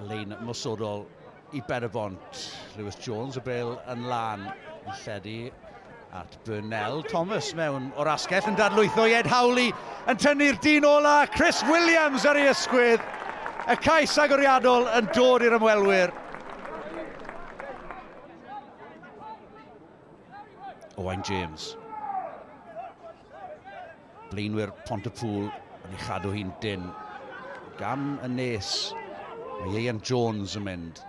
Lein nosodol i Berfont. Lewis Jones y bel yn lan yn lledu at Burnell. Thomas mewn o'r asgell yn dadlwytho i Ed Howley yn tynnu'r dyn ola. Chris Williams ar ei ysgwydd. Y cais agoriadol yn dod i'r ymwelwyr. Owain James. Blaenwyr Pontypŵl yn ei chadw hi'n dynn gan y nes. Mae Ieuan Jones yn mynd.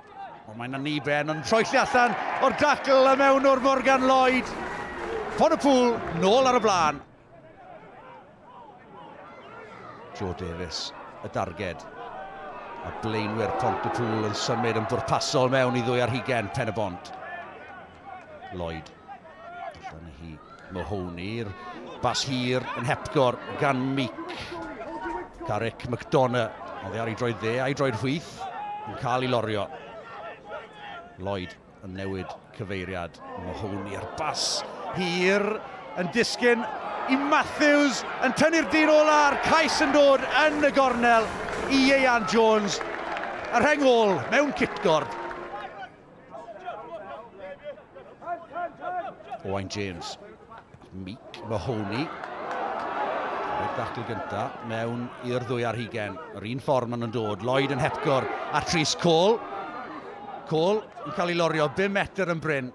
Ond mae'n aniben yn rhoi lle allan o'r dacl a mewn o'r Morgan Lloyd. Pontypŵl nôl ar y blaen. Joe Davies, y darged. A blaenwyr Pont y Pŵl yn symud yn bwrpasol mewn i ddwy ar hugen pen y bont. Lloyd. Allan hi Mahoney, bas hir yn hepgor gan Meek. Tarek McDonough, oedd e ar ei droed dde a'i droed chwith, yn cael ei lorio. Lloyd yn newid cyfeiriad Mahoney ar bas hir yn disgyn i Matthews yn tynnu'r dyn ola a'r cais yn dod yn y gornel i Ieuan Jones. Yr heng ôl mewn cipgorb. Owain James. Meek Mahoney. Y dacl gynta mewn i'r ddwy ar hugen. Yr un ffordd maen nhw'n dod. Lloyd yn hepgor at Rhys Cole. Cole yn cael ei lorio 5 metr yn bryn.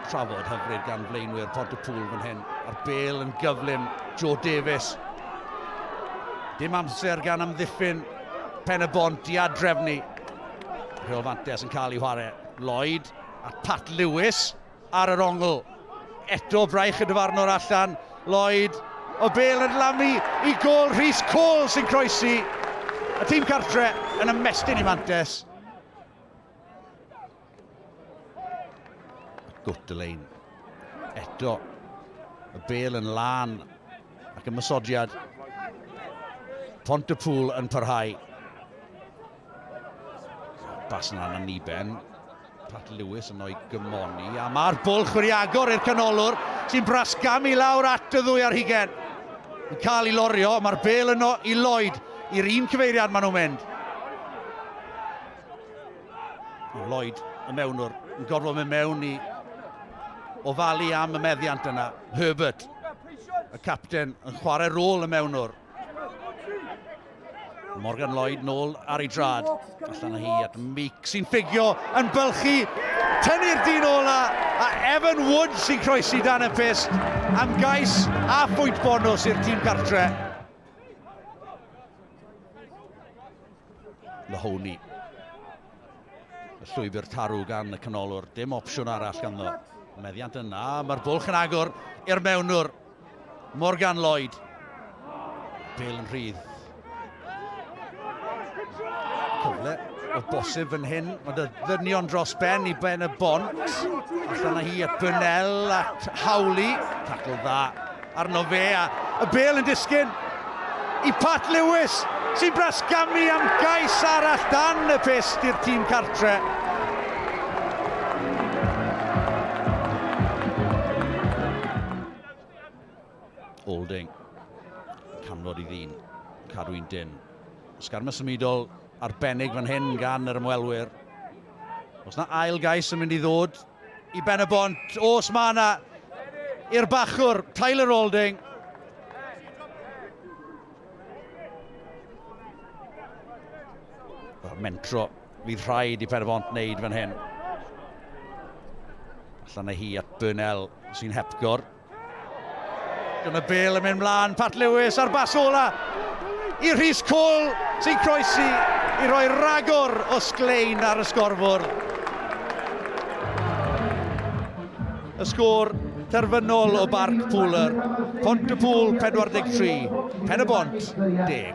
Trafod hyfryd gan flaenwyr Port y Pŵl fan hyn. A'r bel yn gyflym. Joe Davies. Dim amser gan amddiffyn pen y bont i adrefnu Rheol fantes yn cael ei chwarae. Lloyd a Pat Lewis ar yr ongl. Eto braich y dyfarnwr allan. Lloyd o bel yn lamu i gol Rhys Cole sy'n croesi y tîm cartre yn ymestyn i Mantes. Gwtlein. Eto y bel yn lan ac ymysodiad Pont y Pŵl yn parhau. Bas yn anna ni ben. Pat Lewis yn o'i gymoni. A mae'r bol chwiriagor i'r canolwr sy'n brasgam i lawr at y ddwy ar hugen. Yn cael ei lorio, mae'r bel yno i Lloyd. I'r un cyfeiriad maen nhw'n mynd. Lloyd y mewnwr yn gorfod mynd mewn i ofalu am y meddiant yna. Herbert, y capten, yn chwarae rôl y mewnwr. Morgan Lloyd nôl ar ei drad. Allan â hi at Meek sy'n ffigio yn bylchu. Tynnu'r dyn ola a Evan Wood sy'n croesi dan y pist am gais a phwynt bonus i'r tîm gartre. Mahoney. Y llwybr tarw gan y canolwr, dim opsiwn arall ganddo. Meddiant yna, mae'r bwlch yn agor i'r mewnwr. Morgan Lloyd. Bale yn rhydd. Cyfle o bosib fan hyn. Mae dy ddynion dros ben i ben y bont. Allan â hi at Burnell, at Hawley. Tackle dda arno fe a y bel yn disgyn i Pat Lewis sy'n brasgamu am gais arall dan y pest i'r tîm cartre. Alding. Canfod i ddyn. Cadw i'n dyn. Sgarma symudol arbennig fan hyn gan yr ymwelwyr. Os na ail gais yn mynd i ddod i ben y bont, os mae yna i'r bachwr, Tyler Alding. Mentro fydd rhaid i Penybont wneud fan hyn. Allan â hi at Burnell sy'n hepgor. Dyna bel yn mynd mlaen, Pat Lewis ar bas ola i Rhys Cole sy'n croesi i roi ragor o sglein ar y sgorfwr. Y sgôr terfynol o Barc Pooler, Pont y Pŵl 43, Pen y Bont 10.